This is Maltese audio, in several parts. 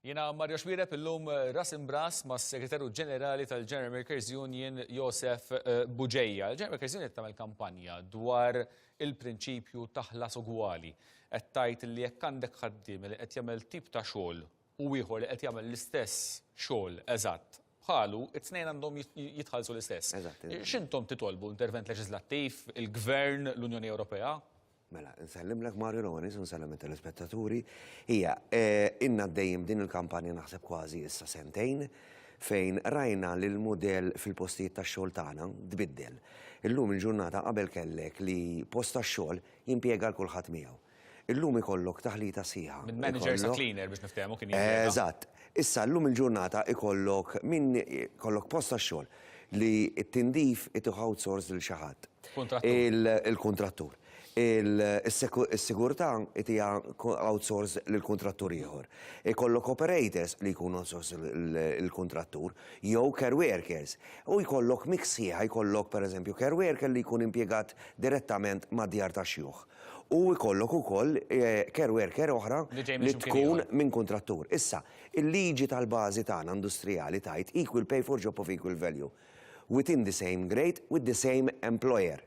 Jena Mario Xwirep illum eh, ras imbras ma' segretarju ġenerali tal-General Makers Union Josef eh, Buġeja. Il-General Makers Union tagħmel kampanja dwar il-prinċipju taħlas ugwali. Qed tgħid li jekk għandek ħaddiem li qed jagħmel tip ta' xogħol u ieħor li qed jagħmel l-istess xogħol eżatt bħalu, it-tnejn għandhom jitħallsu l-istess. X'intom titolbu intervent leġislattiv, il-Gvern, l-Unjoni Ewropea? Mela, nsellimlek Mario Lonis, nsellem il-telespettaturi. Ija, eh, inna dejjem din il-kampanja naħseb kważi issa sentejn fejn rajna li l-modell fil-postijiet ta' xogħol tagħna tbiddel. Illum il-ġurnata qabel kellek li post ta' xogħol jimpjega l kulħadd miegħu. Illum ikollok taħlita sħiħa. Minn manager sa cleaner biex niftehmu kien jien. Eżatt. Issa llum il-ġurnata ikollok min kollok post tax-xogħol li t-tindif itih outsource lil xi ħadd. Il-kuntrattur. Is-sigurtà itiha outsource lil kuntrattur ieħor. Ikollok operators li jkunu outsource lil kuntrattur jew care workers. U jkollok mix sħiħa, jkollok pereżempju care worker li jkun impjegat direttament mad-djar tax-xjuħ. u jkollok ukoll care worker oħra li tkun minn kuntrattur. Issa, il-liġi tal-bażi tagħna industrijali tgħid equal pay for job of equal value within the same grade with the same employer.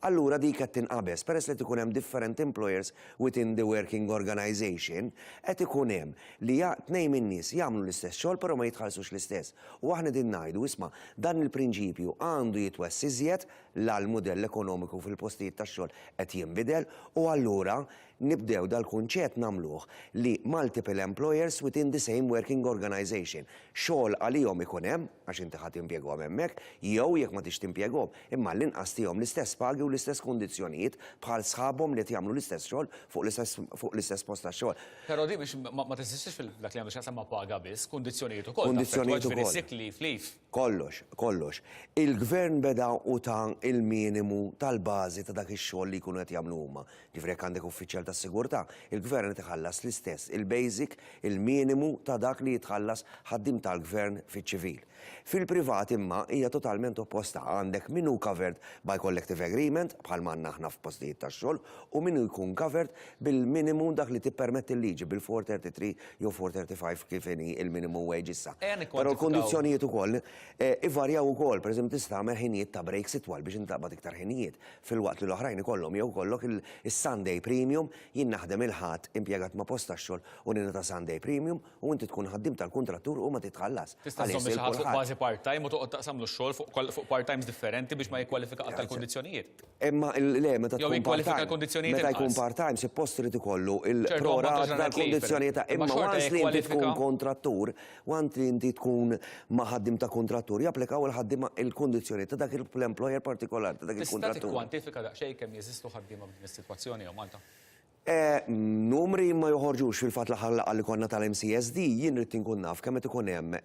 Allura dik qed tinqabeż, peress li qed ikun hemm different employers within the working organisation, qed ikun hemm li tnejn min-nies jagħmlu l-istess xogħol però ma jitħallsux l-istess. U aħna qegħdin ngħidu, isma', dan il-prinċipju għandu jitwessa' iżjed la l-mudell ekonomiku fil-postijiet tax-xogħol qed jinbidel u allura nibdew dal-kunċett nagħmluh li multiple employers within the same working organisation, xogħol għalihom ikun hemm, għax inti ħa timpjegahom hemmhekk, jew jekk ma tridx timpjegahom, imma għall-inqas tihom l-istess pagi u l-istess kundizzjonijiet bħal sħabhom li qed jagħmlu l-istess xogħol fuq l-istess post tax-xogħol. Però din ma teżistix f'dak li għandu x'jaqsam ma' paga biss, kundizzjonijiet ukoll, taffettwa ġifieri sick leave, leave. Kollox, kollox, il-Gvern beda u ta l-minimu tal-bażi ta' dak ix-xogħol li jkunu qed jagħmlu huma. Ġifieri jekk għandek uffiċjal tas-sigurtà, il-Gvern qed iħallas l-istess, il-basic, il-minimu ta' dak li jitħallas ħaddiem tal-Gvern fiċ-ċivil. Fil-privat imma hija totalment opposta, għandek min hu covered by collective agreement, bħalma għandna aħna f'postijiet tax-xogħol, u min hu jkun covered bil-minimu dak li tippermetti l-liġi, bil-433 jew 435 kif inhi il-minimum wage issa. Però l-kondizzjonijiet ukoll eh, ivarjaw ukoll, pereżempju tista' tagħmel ħinijiet ta' breaks itwal biex intaqbad iktar ħinijiet fil-waqt li l-oħrajn ikollhom jew kollok il-Sunday premium jien naħdem il-ħadd impjegat ma' posta xogħol u nina ta' Sunday premium u inti tkun ħaddim tal-kuntrattur u ma titħallas. Tista' żomm xi ħadd fuq bażi part-time u toqgħod taqsamlu x-xogħol fuq part-times differenti biex ma jikkwalifika għal tal-kondizzjonijiet. Imma le, meta tkun part-time. Meta jkun part-time, suppost irid ikollu il-prorat tal-kondizzjonijiet ta' imma once li inti tkun kontrattur, once li inti tkun ma' ħaddiem ta' kontrattur, japplikaw il-ħaddiema il-kondizzjonijiet ta' dak l-employer partikolari ta' dak il-kontrattur. Tista' tikkwantifika daqsxejn kemm jeżistu ħaddiema f'din is-sitwazzjoni hawn Malta? Numri ma joħorġux fil-fatt l-aħħar laqgħa li konna tal-MCSD, jien ridt inkun naf kemm qed ikun hemm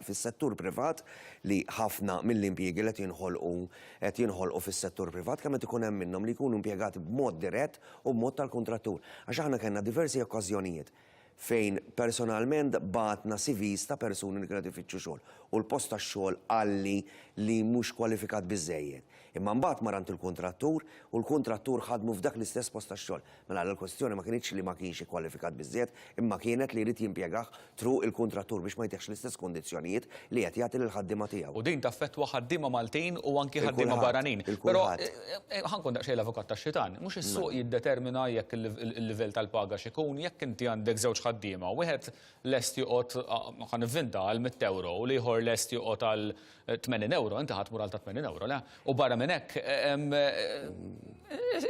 fis-settur privat li ħafna mill-impjiegi li qed jinħolqu qed jinħolqu fis-settur privat, kemm qed ikun hemm minnhom li jkunu impjegati b'mod dirett u b'mod tal-kuntrattur. Għax aħna kellna diversi okkażjonijiet. fejn personalment bagħatna CVs ta' persuni li kienet ifittxu xogħol u l-post tax-xogħol qalli li mhux kwalifikat biżżejjed. Imma mbagħad mar għand il-kuntrattur u l-kuntrattur ħadmu f'dak l-istess post tax-xogħol. Mela allura l-kwestjoni ma kinitx li ma kienx ikkwalifikat biżżejjed imma kienet li jrid jimpjegah through il-kuntrattur biex ma jtihx l-istess kundizzjonijiet li qed jagħti lill-ħaddiema tiegħu. U din taffettwa ħaddiema Maltin u anki ħaddiema barranin. Però ħankun daqsxejn l-avukat tax-xitan. Mhux is-suq mela. jiddetermina jekk il-livell tal-paga x'ikun, jekk inti għandek żewġ ħaddiema, wieħed lest joqgħod ħan nivvinta għal 100 euro u l-ieħor lest joqgħod għal 80 euro, inti ħadd mur għal ta' 80 euro, le? U barra minn hekk,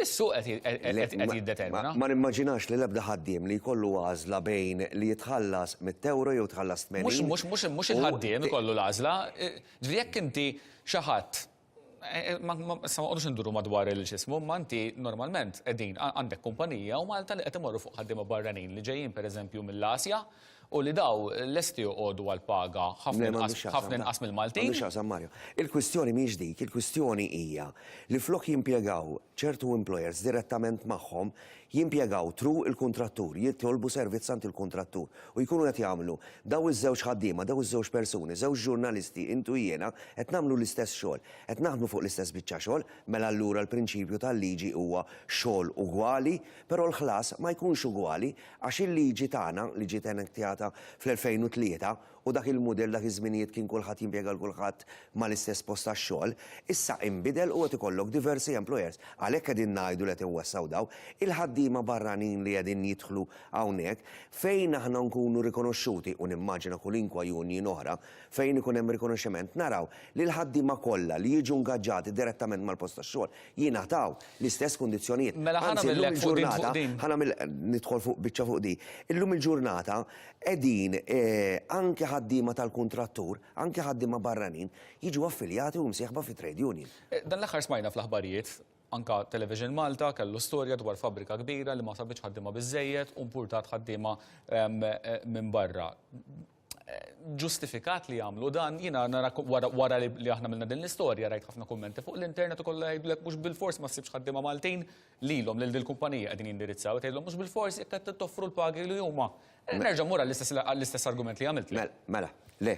is-suq qed jiddetermina. Ma nimmaġinax li l-ebda ħaddiem li jkollu għażla bejn li jitħallas mitt ewro jew tħallas tmenin. Mhux mhux il-ħaddiem ikollu l-għażla, ġifieri jekk inti xi ħadd ma nqogħdux induru madwar il-xismu, imma inti normalment qegħdin għandek kumpanija u Malta li qed imorru fuq ħaddiema barranin li ġejjin pereżempju mill-Asja U li daw lesti joqogħdu għal paga ħafna inqas ħafna inqas mill-Maltin. M'għandux x'jaqsam Mario. Il-kwistjoni mhix dik, il-kwistjoni hija li flok jimpjegaw ċertu employers direttament magħhom, jimpjegaw through il-kuntrattur, jitolbu servizz għand il-kuntrattur u jkunu qed jagħmlu daw iż-żewġ ħaddiema, daw iż-żewġ persuni, żewġ ġurnalisti, int u jiena, qed nagħmlu l-istess xogħol, qed naħdmu fuq l-istess biċċa xogħol, mela allura l-prinċipju tal-liġi huwa xogħol ugwali, Però l-ħlas ma jkunx ugwali għax il-liġi tagħna, li ġiet enektjata fl-2003, u dak il-mudell dak iż-żminijiet kien kulħadd jimpjega 'l kulħadd mal-istess post tax-xogħol, issa inbidel u qed ikollok diversi employers. Għalhekk qegħdin ngħidu li qed inwessgħu dawn. Il-ħaddiema barranin li qegħdin jidħlu hawnhekk, fejn aħna nkunu rikonoxxuti, u nimmaġina kulinkwa union oħra, fejn ikun hemm rikonoxximent, naraw li l-ħaddiema kollha li jiġu ngaġġati direttament mal-post tax-xogħol jingħataw l-istess kundizzjonijiet. Mela ħa nagħmillek fuq din fuq din. Ħa nagħmel nidħol fuq biċċa fuq di. Illum il-ġurnata qegħdin anke ħaddiema tal-kuntrattur, anke ħaddiema barranin jiġu affiljati u msieħba fi trade union. Dan l-aħħar smajna fl-aħbarijiet anka Television Malta kellu storja dwar fabbrika kbira li ma sabitx ħaddiema biżejjed u mpurtat ħaddiema minn barra. ġustifikat li jagħmlu dan, jiena nara wara li aħna milna din l-istorja rajt ħafna kummenti fuq l-internet u kollha jgħidlek mhux bil-fors ma ssibx ħaddiema Maltin lilhom lil din kumpanija qegħdin jindirizzaw tgħidlhom mhux bil-fors jekk qed toffru l-pagi li huma. Eh, nerġa' mura l-istess argument li għamilt. Mela, mela, le.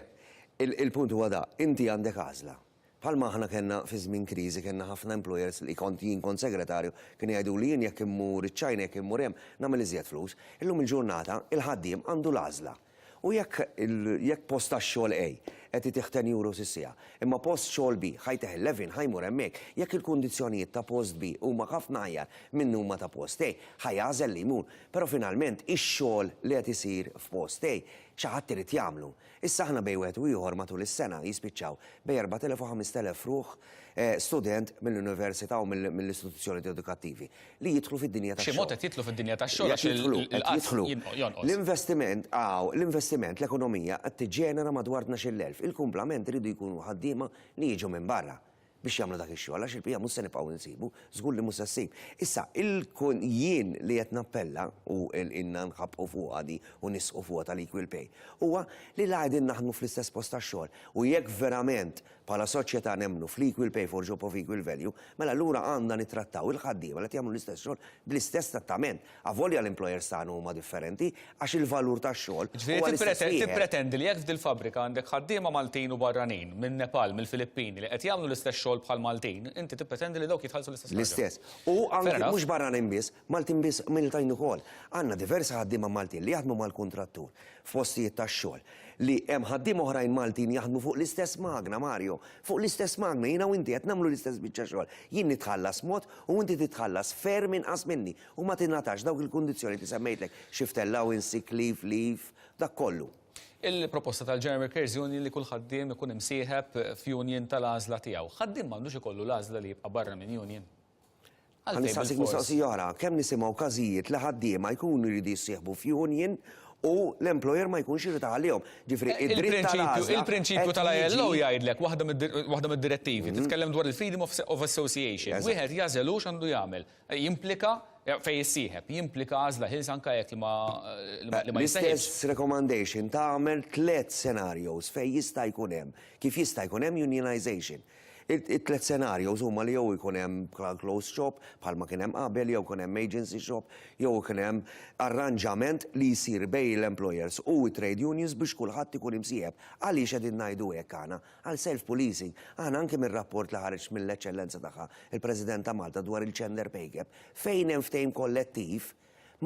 Il-punt huwa da, inti għandek għażla. Bħalma aħna kellna fi żmien kriżi kellna ħafna employers li kont jien kont segretarju kienu jgħiduli jien jekk immur iċ-China jekk immur hemm nagħmel iżjed flus. Illum il-ġurnata il-ħaddiem għandu l-għażla. U jekk jekk post tax-xogħol A qed itih ten euros is-siegħa, imma post xogħol B ħa jtih eleven ħa jmur hemmhekk. Jekk il-kundizzjonijiet ta' post B huma ħafna aħjar minn huma ta' post A, ħa jagħżel li jmur. Però finalment ix-xogħol li qed isir f'post A xi ħadd irid jagħmlu. Issa aħna bejn wieħed u ieħor matul is-sena jispiċċaw bejn 4,000 u 5,000 ruħ, student mill-università u mill-istituzzjoniet edukattivi, li jidħlu fid-dinja tax-xogħol. B'xi mod qed jidħlu fid-dinja tax-xogħol għax il-qgħad jonqos. L-investiment, aw, l-investiment, l-ekonomija qed tiġġenera madwar tnax-il elf. Il-kumplament iridu jkunu ħaddiema li jiġu minn barra. biex jagħmlu dak ix-xogħol għax il-bqija mhux se nibqgħu nsibu, żgur li mhux se ssib. Issa, il-kun jien li qed nappella u ilna nħabbqu fuqha di u nisqu fuqha tal-equal pay, huwa li la qegħdin naħdmu fl-istess post tax-xogħol u jekk verament bħala soċjetà nemmnu fl-equal pay for job of equal value, mela allura għandna nittrattaw il-ħaddiema li qed jagħmlu l-istess xogħol bl-istess trattament. Avolja l-employers tagħna huma differenti, għax il-valur tax-xogħol huwa l-istess wieħed. Ġifieri tippretendi li jekk f'dil fabbrika għandek ħaddiema Maltin u barranin, minn Nepal, mill-Filippini, li qed jagħmlu l-istess xogħol bħal Maltin, inti tippretendi li dawk jitħallsu l-istess ħaġa? L-istess. U anki mhux barranin biss, Maltin biss, Miltain ukoll. Għandna diversi ħaddiema Maltin li jaħdmu mal-kuntrattur f'postijiet tax-xogħol, li hemm ħaddiema oħrajn Maltin jaħdmu fuq l-istess magna, Mario, fuq l-istess magna, jiena u inti qed nagħmlu l-istess biċċa xogħol. Jien nitħallas mod u inti titħallas ferm inqas minni. u ma tingħatax dawk il-kundizzjonijiet li semmejtlek, shift allowance, sick leave, leave, dak kollu. Il-proposta tal-General Workers Union li kull ħaddiem ikun imsieħeb f'union tal-għażla tiegħu. Ħaddiem m'għandux ikollu l-għażla li jibqa' barra minn union. Ħa nistaqsik mistoqsija oħra, kemm nisimgħu każijiet li ħaddiema jkunu jridu jissieħbu f'union u l-employer ma jkunx irid iħallihom. Ġifieri id-dritt tal-għażla. Il-prinċipju tal-ILO jgħidlek waħda mid-direttivi mhm. titkellem dwar il-freedom of association. Wieħed jażel hux għandu jagħmel. Jimplika, fejn issieħeb, jimplika għażla ħielsa anke jekk li ma jissejħibx. L-istess recommendation tagħmel tliet scenarios fejn jista' jkun hemm, kif jista' jkun hemm unionization. It-tliet scenarios huma li jew ikun hemm closed shop bħalma kien hemm qabel jew ikun hemm agency shop jew ikun hemm arranġament li jsir bejn l-employers u t-trade unions biex kulħadd ikun imsieħeb. Għaliex qegħdin ngħidu hekk aħna? għal self-policing, aħna anki mir-rapport li ħareġ mill-Eċċellenza tagħha l-President ta' Malta dwar il-gender pay gap, fejn hemm ftehim kollettiv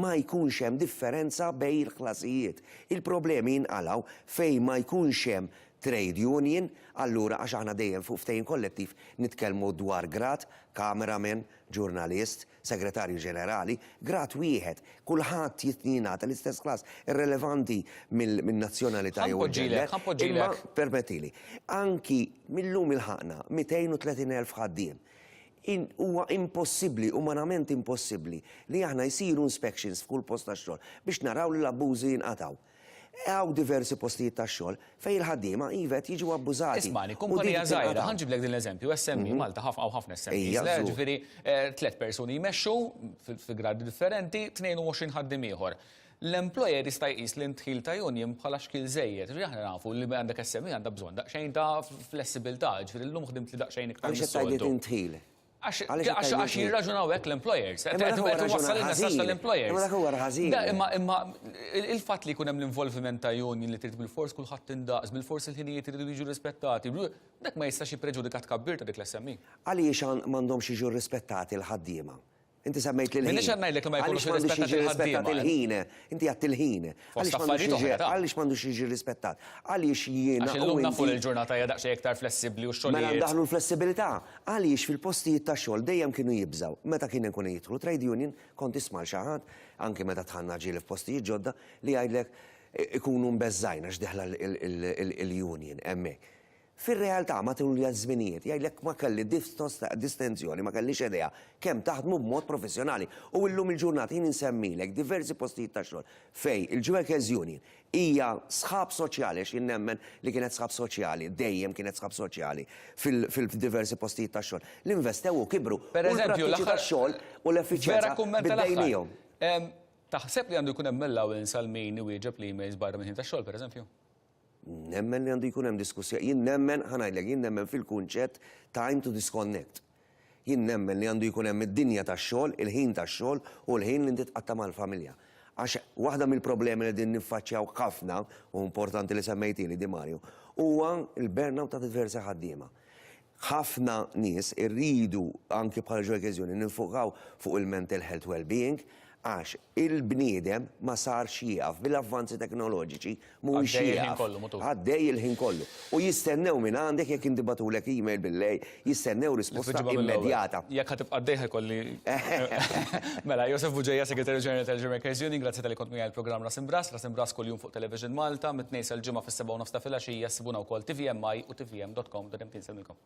ma jkunx hemm differenza bejn il-ħlasijiet. Il-problemi jinqalgħu fejn ma jkunx hemm trade union, allura għax aħna dejjem fuq ftehim kollettiv nitkellmu dwar grad, cameraman, ġurnalist, Segretarju Ġenerali, grad wieħed, kulħadd jingħata l-istess klass, irrelevanti min-nazzjonalità jew il-gender. Ħa npoġġilek, ħa npoġġilek. Permettili. Anki mil-lum ilħaqna 230,000 ħaddiem. Huwa impossibbli, umanament impossibbli, li aħna jsiru inspections f'kull post tax-xogħol biex naraw li l-abbużi jinqatgħu. Hawn diversi postijiet tax-xogħol fejn il-ħaddiema, iva, qed jiġu abbużati. Ismagħni, kumpanija żgħira, ħa nġiblek din l-eżempju, SME, Malta hawn ħafna SMEs, le, ġifieri tliet persuni jmexxu fi gradi differenti, 22 ħaddiem ieħor. L-employer jista' jqis li d-dħil ta' union bħala xkiel żejjed, ġifieri aħna nafu li għandek SME għandha bżonn daqsxejn ta' flessibilità, ġifieri llum ħdimt li daqsxejn iktar. Għaliex qed tgħid li din dħil? Għax Għaliex għax għax it-tajbin fih. jirraġunaw hekk l-employers. Qed Imma dak qed huwa qed iwassal raġunar il-messaġġ ħażin. tal-employers. Imma dak huwa ħażin. Da, imma imma il- il-fatt li jkun hemm l-involviment ta' union li trid bil-fors kulħadd indaqs, bil-fors il-ħinijiet iridu jiġu rispettati, bl- dak ma jistax jippreġudika t-tkabbir ta' dik l-SME. Għaliex għan- m'għandhomx jiġu rrispettati l-ħaddiema? Inti semmejt l-ħin. M'iniex qed ngħidlek li ma jkunux Għaliex m'għandux irrispettati jiġi l-ħaddiema. rrispettat il-ħin? Inti għedt il-ħin. Fost affarijiet oħra, ta. Għaliex m'għandux jiġi rrispettat? Għaliex jiena u inti. Għax illum nafu li l-ġurnata hija daqsxejn iktar flessibbli u x-xogħlijiet. Mela ndaħħlu l-flessibilità. Għaliex fil-postijiet tax-xogħol dejjem kienu jibżgħu, meta kienu jkunu jidħlu trade union, kont tisma' lil xi ħadd, anke meta dħalna ġieli f'postijiet ġodda, li jgħidlek ikunu mbeżżgħin għax deħla l-union hemmhekk. Fir-realtà, matul iż-żminijiet, jgħidlek ma kelli distenzjoni, ma kellix idea kemm taħdmu b'mod professjonali. U illum il-ġurnata jien insemmilek diversi postijiet ta' xogħol fejn il-Jewekers Union hija sħab soċjali għax jien nemmen li kienet sħab soċjali, dejjem kienet sħab soċjali fil-diversi postijiet ta' xogħol li investew u kibru u l-prattiċi tax-xogħol u l-effiċjenza biddejnihom. Taħseb li għandu jkun hemm allowance għal min iwieġeb l-emails barra mill-ħin tax-xogħol, pereżempju? Nemmen li għandu jkun hemm diskussja, jien nemmen, ħanajdlek, jien nemmen fil-kunċett time to disconnect. Jien nemmen li għandu jkun hemm id-dinja tax-xogħol, il-ħin tax-xogħol u l-ħin li inti tqatta' mal-familja. Għax waħda mill-problemi li qegħdin niffaċċjaw ħafna, u importanti li semmejtieli di Mario, huwa l-burnout ta' diversi ħaddiema. Ħafna nies irridu, anki bħala ġo l-ekkeżjoni, ninfokaw fuq il-mental health well-being għax il-bniedem ma sarx jieqaf, bil-avvanzi teknoloġiċi mhuwiex jieqaf. Għaddej il-ħin kollu, mutur. Għaddej il-ħin kollu. U jistennew minn għandek jekk inti bagħtulek email bil-lejl, jistennew risposta immedjata. Jekk ħa tibqa' għaddej ħa jkolli. Mela, Josef Bugeja, Segretarju Ġenerali tal-Ġo l-Ekkeżjoni, grazzi talli kont miegħi għall-programm Ras Imbrass, Ras Imbrass kuljum fuq. Fuq Television Malta, mit-Tnejn sal-Ġimgħa fis-sebgħa u nofs ta' filgħaxija ssibuna wkoll tvmi u tvm.com.mkn semmilkom.